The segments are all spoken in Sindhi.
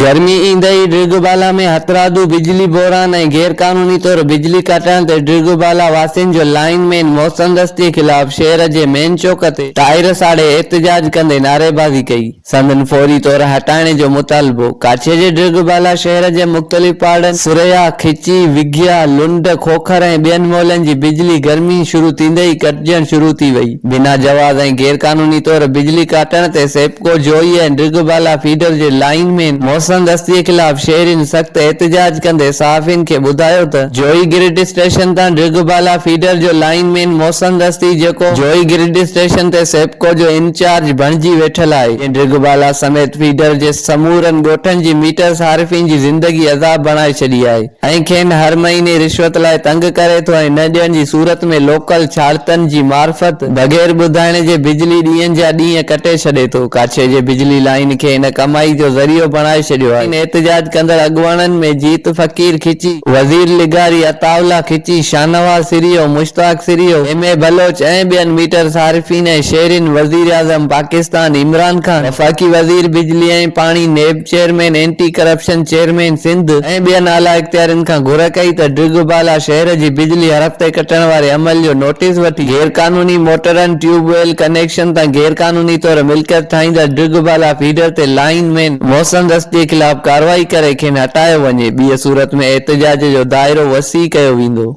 گرمي ايندي ئي ڊرگهوبالا ۾ هٿرادو بجلي بحران ۽ غير قانوني طور بجلي ڪاٽڻ تي ڊرگهوبالا واسين جو لائين مين محسن رستي خلاف شهر جي مين چوڪ تي ٽائر ساڙي احتجاج ڪندي نعريبازي ڪئي سندن فوري طور هٽائڻ جو مطالبو ڪاڇي جي ڊرگهوبالا شهر جي مختلف پاڙن ثريا، کچي، وگهيا، لنڊ، کوکر ۽ ٻين مولن جي بجلي گرمي شروع ٿيندي ئي ڪٽجڻ شروع ٿي وئي. بنا جواز ۽ غير قانوني طور بجلي ڪاٽڻ تي سيپڪو جويي ۽ ڊگهه بالا فيڊر جي لائين مين محسن دستي خلاف شهرين سخت احتجاج ڪندي صحافين کي ٻڌايو ته جويي گرڊ اسٽيشن تان ڊگهه بالا فيڊر جو لائين مين محسن دستي جيڪو جويي گرڊ اسٽيشن تي سيپڪو جو انچارج بڻجي ويٺل آهي جنهن ڊگهه بالا سميت فيڊر جي سمورن ڳوٺن جي ميٽر صارفين جي زندگي عذاب بڻائي ڇڏي آهي. ۽ کين هر مهيني رشوت لاء تنگ ڪري ٿو ۽ نه ڏيڻ جي صورت ۾ لوڪل ڇاڙتن جي معرفت بغير ٻڌائڻ جي بجلي ڏينهن جا ڏينهن ڪٽي ڇڏي ٿو. ڪاڇي جي بجلي لائين کي هن ڪمائي جو ذريعو بڻائي ڇڏيو آهي. احتجاج ڪندڙ اڳواڻن ۾ جيت فقير کچي، وزير لغاري، عطاء الله کچي، شاهنواز سريو، مشتاق سريو، ايم اي بلوچ ۽ ٻين ميٽر صارفين ۽ شهرين، وزيراعظم پاڪستان عمران خان، وفاقي وزير بجلي ۽ پاڻي NAB, chairman anti corruption, chairman Sindh ۽ ٻين اعليٰ اختيارين کان گهر ڪئي ته ڊگهه بالا شهر جي بجلي هر هفتي ڪٽڻ واري عمل جو نوٽيس وٺي غيرقانوني موٽرن، ٽيوب ويل ڪنيڪشن تان غيرقانوني طور ملڪيت ٺاهيندڙ ڊگهه بالا فيڊر تي لائين مين محسن رسٽي خلاف ڪارروائي ڪري کين هٽايو وڃي، ٻيء صورت ۾ احتجاج جو دائرو وسيع ڪيو ويندو.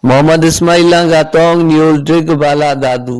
محمد اسماعيل لانگاهه ٽونگ نيوز ڊگهه بالا دادو.